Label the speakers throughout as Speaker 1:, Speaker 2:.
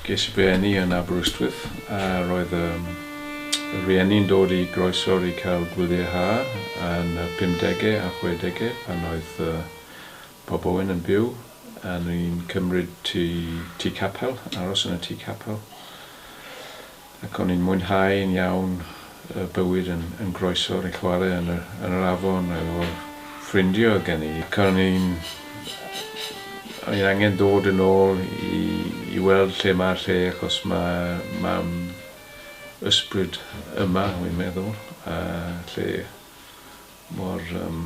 Speaker 1: Ges i fy eni yn Aberystwyth a roedd y rhieni'n dod i groesawr i cael gwyliau ha yn y pumdege a chwedege pan oedd Bob Owen yn byw a ni'n cymryd tŷ capel, aros yn y tŷ capel. Ac o'n i'n mwynhau yn iawn y bywyd yn yn groesawr i chware yn yr yn yr afon efo ffrindio o'dd gen i ac o'n i'n o'n i'n angen dod yn ôl i i weld lle ma'r lle achos ma' mam ysbryd yma wi'n meddwl a lle mor yym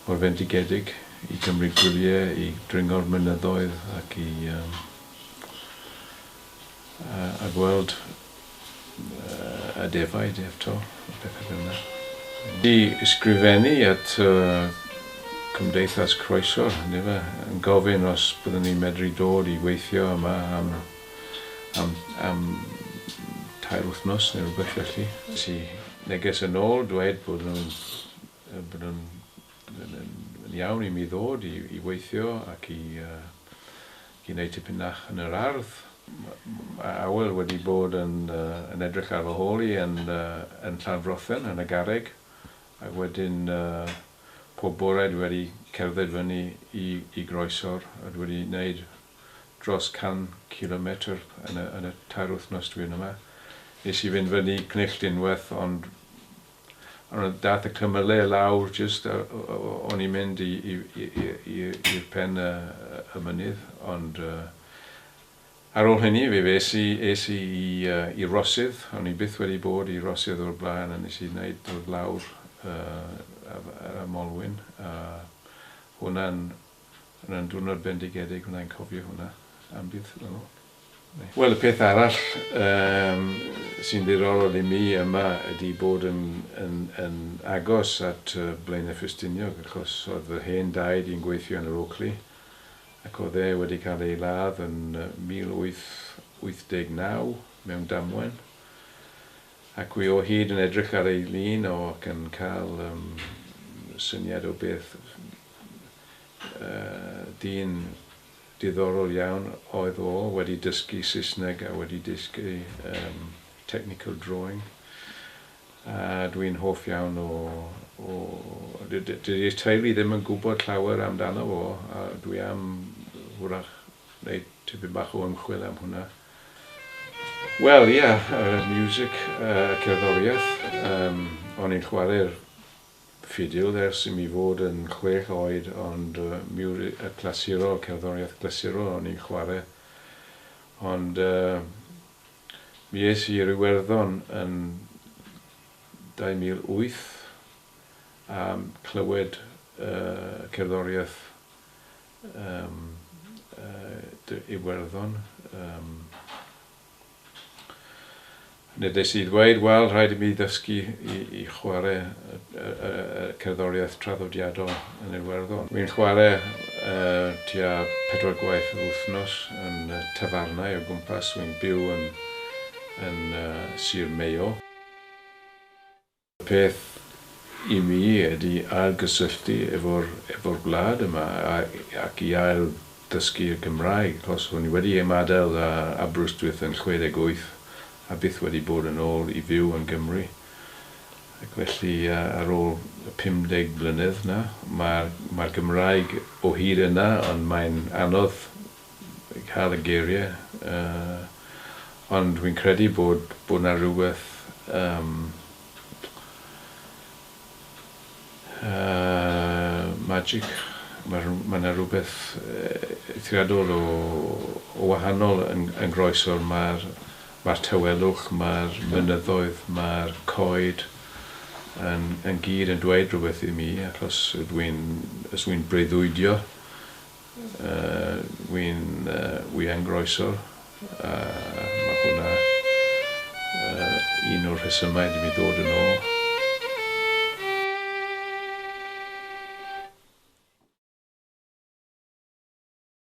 Speaker 1: mor fendigedig i gymryd gwylie i dringo'r mynyddoedd ac i yym a gweld y defaid eto a pethau fel yna. I ysgrifennu at Cymdeithas Croeso, yndyfe, yn gofyn os byddwn ni'n medru dod i weithio yma am am am tair wythnos neu rhywbeth felly. Es i neges yn ôl dweud bod nhw'n bod nhw'n yn iawn i mi ddod i i weithio ac i Cyn eu tipyn nach yn yr ardd. Mae Awel wedi bod yn yn edrych ar fy hôl i yn yn Llanfrothen yn y garreg ac wedyn pob bore dwi wedi cerdded fyny i i groeso'r a dwi wedi neud dros 100 cilometr yn y yn y tair wythnos dwi yn yma. Nes i fynd fyny Cnill Dinwerth ond Ond oedd data cymyle i lawr jyst o'n i'n mynd i'r pen y mynydd ond ar ôl hynny fe es i es i i Rosydd o'n i byth wedi bod i Rosydd o'r blaen a nes i neud dod lawr yr y Molwyn a hwnna'n hwnna'n diwrnod bendigedig wnai'n cofio hwnna am byth yn ôl. Wel y peth arall yym sy'n ddiddorol i mi yma ydi bod yn yn yn agos at yy Blaenau Ffestiniog achos oedd fy hen daid i'n gweithio yn yr Oakley ac oedd e wedi cael ei ladd yn yy 1889 mewn damwen ac wi o hyd yn edrych ar ei lun o ac yn cael yym syniad o beth yy dyn Diddorol iawn oedd o, wedi dysgu Saesneg a wedi dysgu yym technical drawing a dwi'n hoff iawn o o dy- dy- dydi'r teulu ddim yn gwybod llawer amdano fo a dwi am wrach wneud tipyn bach o ymchwil am hwnna. Wel ia, yr music, y cerddoriaeth, yym o'n i'n chwarae'r ffidil ers i mi fod yn chwech oed ond mi yw'r clasurol, cerddoriaeth glasurol o'n i'n chwarae ond mi es i i'r Iwerddon yn 2008 a clywed y cerddoriaeth Iwerddon. Nid wnes i ddweud, 'Wel, rhaid i mi ddysgu i chwarae cerddoriaeth traddodiadol yn Iwerddon. Wi'n chwarae tua pedwar gwaith yr wythnos yn tafarnau o gwmpas. Wi'n byw yn Sir Mayo. Y peth i mi ydy ailgysylltu efo'r gwlad yma ac i ail ddysgu y Gymraeg, achos o'n i wedi ymadael â Aberystwyth yn 68 a byth wedi bod yn ôl i fyw yn Gymru. Ac felly ar ôl y 50 mlynedd 'na, mae'r Gymraeg o hyd yna ond mae'n anodd cael y geiriau yy ond wi'n credu bod bod 'na rywbeth yym yy magic ma' rw- ma' 'na rywbeth eithriadol o o wahanol yn yn groeso ma'r ma'r tawelwch ma'r mynyddoedd ma'r coed yn yn gyd yn dweud rhywbeth i mi achos ydw i'n os wi'n breuddwydio Wi'n wian groeswr a mae hwnna un o'r rhesymau ydw i'n dod yn ôl.